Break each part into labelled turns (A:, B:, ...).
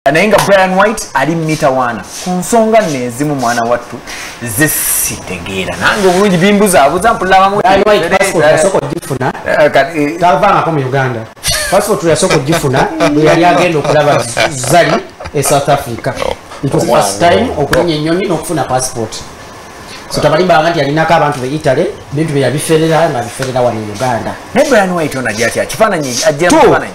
A: naye nga brian white ali mitawaana ku nsonga neezimu mwana wattu ze sitegeera nange obulungi bimbuzabuza mpulabamugifuna
B: eh, eh, tavangako mu uganda passport yasooka ogifuna bweyali agenda okulaba zali e south africa time okulinya enyonyi nokufuna passport so tabalimbanga nti yalinako abantu be italy bintu byeyabiferera nga biferera wano e uganda naye brian white ono ajja
A: atya kifaananyi ajja kifaananyi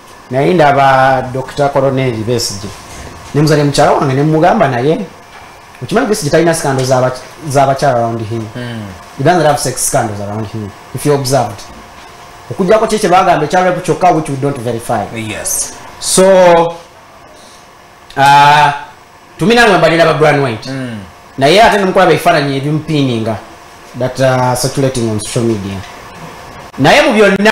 B: naye ndaba dr coroneri besige nemuzanye mukyala wange nemugamba naye okimanyi besige talina sikando zabakyala around him hmm. he doesn't have sex scandals around him if you observed okujjako kye kyebagamba ekyarapu kyokka which we don't verify yes
A: so
B: uh, tuminamwe mbalira ba brand white mm. naye ate nemukulaba ebifaananyi ebimupiininga that uh, circulating on social media naye mu byonna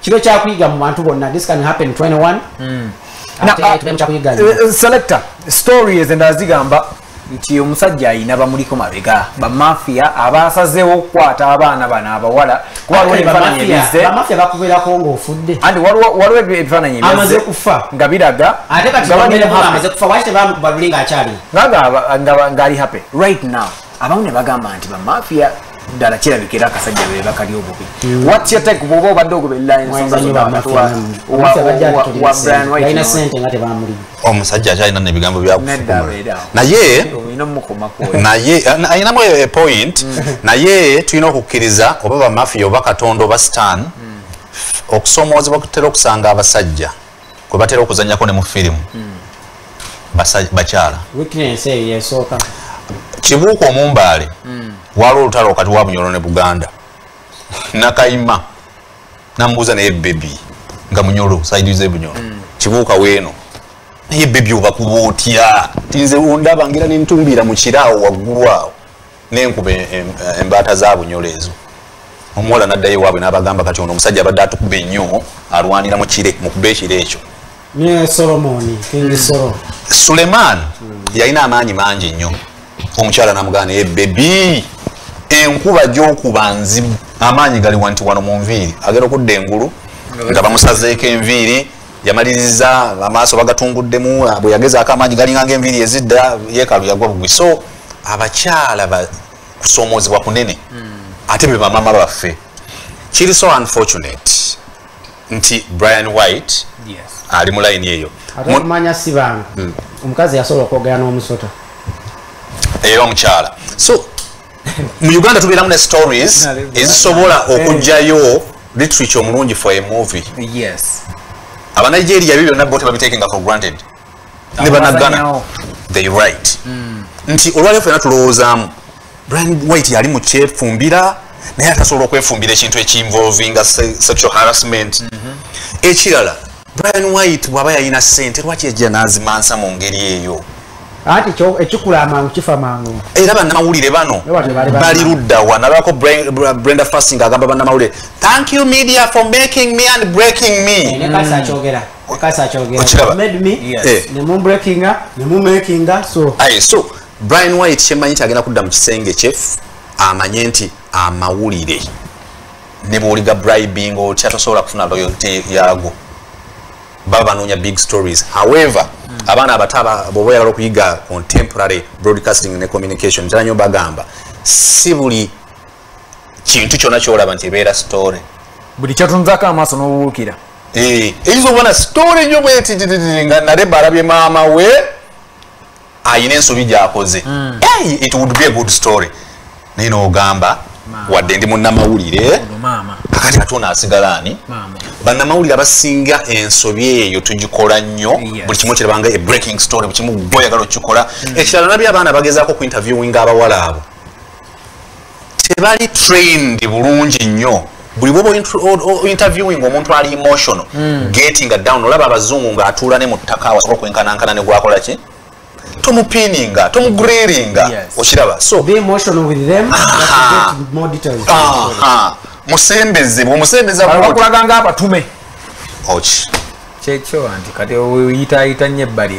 B: kibe kyakuyiga mu bantu bonna this can happen 21 mm. Na, uh,
A: uh, selector story ezendala zigamba nti omusajja ayina bamuliko mabega bamafia abasazewo okukwata abaana bano abawala kubaamafia bakuberako
B: ngaofudde andi waliwo
A: ebifaananyi amaze kufa
B: nga biraga
A: ngaali happy right now abamu ne bagamba nti bamafia ddala kirabika era akasajja be bakali obubi mm. what's your take bwoba obadde ogobelera ensonga
C: omusajja akyalina nebigambo byakunaye naye ayinamu epoint mm. naye tulina okukkiriza oba bamafiya oba katonda oba stan mm. okusomoozebwa kutera okusanga abasajja kwe batera okuzanyako ne mu firimu hmm. bakyala kibuuka omumbaale hmm. waliwo olutalo wakati wa bunyolo ne buganda nakayima namubuuza naye bebi nga munyolo saidize bunyolo hmm. kibuuka weeno naye bebi obakuba otya tinze ondabangira nentumbiira mu kiraawo waggulu awo nenkuba embaata za bunyolo ezo omuwala naddayo ewaabwe n'abagamba kati ono omusajja abadde atukuba ennyo alwanira mu kire mukuba ekiro ekyo ne
B: solomoni kingi solo suleman
C: yalina amaanyi mangi nnyo omukyala namugaa naye bebi enkuba gyokuba nzibu amaanyi gali wanti wano mu nviiri agenda okudda engulu nga bamusazeeko enviiri yamaliriza amaaso bagatunguddemu bwe yagezaako amaanyi galinganga enviiri ezidda yeekalu yagwa bugwi so abakyala ba kusoomozebwa kunene hmm. ate be bamama baffe kiri so unfortunate nti brian white ali mu layini eyo manya si bantu
B: hmm. omukazi yasobola okwogera n'omusota
C: era omukyala so mu uganda tubeeramu ne stories ezisobola okugjayo literature omulungi for a movie
A: abanigeria
C: byo byonna bo tebabitekenga for granted ne banagana they right mm. nti olwaleo fena tulowoozaamu brian white yali mu kyefumbira naye atasobola okwefumbira ekintu ekinvolvinga sexual harassment mm -hmm. ekirala brian white bwaba yalina sente lwaki yajja nazimansa mu ngeri eyo ati
B: kyo ekikula amangu kifa mangu era bana mawulire bano
C: bali rudda wana lako Brenda Fasting agamba bana mawulire thank you media for making me and breaking me ne kasa chogera
B: wakati akyogera Okiraba? made me Yes. Eh. ne mu breakinga ne mu makinga so Aye, so
C: brian white kyemanyi nti agenda kudda mu kisenge kye amanye nti amawulire ne bwoliga bribing otya tosobola kufuna loyalty yago baba banoonya big stories however abaana abato aba- bwoba oyagala okuyiga contemporary broadcasting ne communication ntera nyo bagamba si buli kintu kyona kyolaba nti ebeera story buli kyotunzako
A: amaaso n'obuwuukira Eh, eyinza
C: okubona sitore nyo bwetitititi nga nareba alabye maama we ayina ensobi gyakoze hmm. it would be a good story naye nogamba wadde ndi munamawulire kakati ate ono asigala ani banamawulire abasinga ensobi eyo tugikola nnyo buli kimu kirabanga e breaking story bukimu gwoyagala okukikola hmm. ekirala nabyo abaana bagezaako ku interviewing abawala abo tebali trained bulungi nnyo buli bwoba interviewing omuntu ali emotional mm. getting down olaba abazungu ng'atuula ne mu ttaka awasobola okwenkanankana ne gwakola ki tomupininga tomugriringa yes. okiraba so Be emotional with them,
B: but ah. get more details. Ah, ah.
C: musembeze bwomusembeza bakulaga nga abatume
A: kyekyo anti kati oyitaayita nnyo ebbali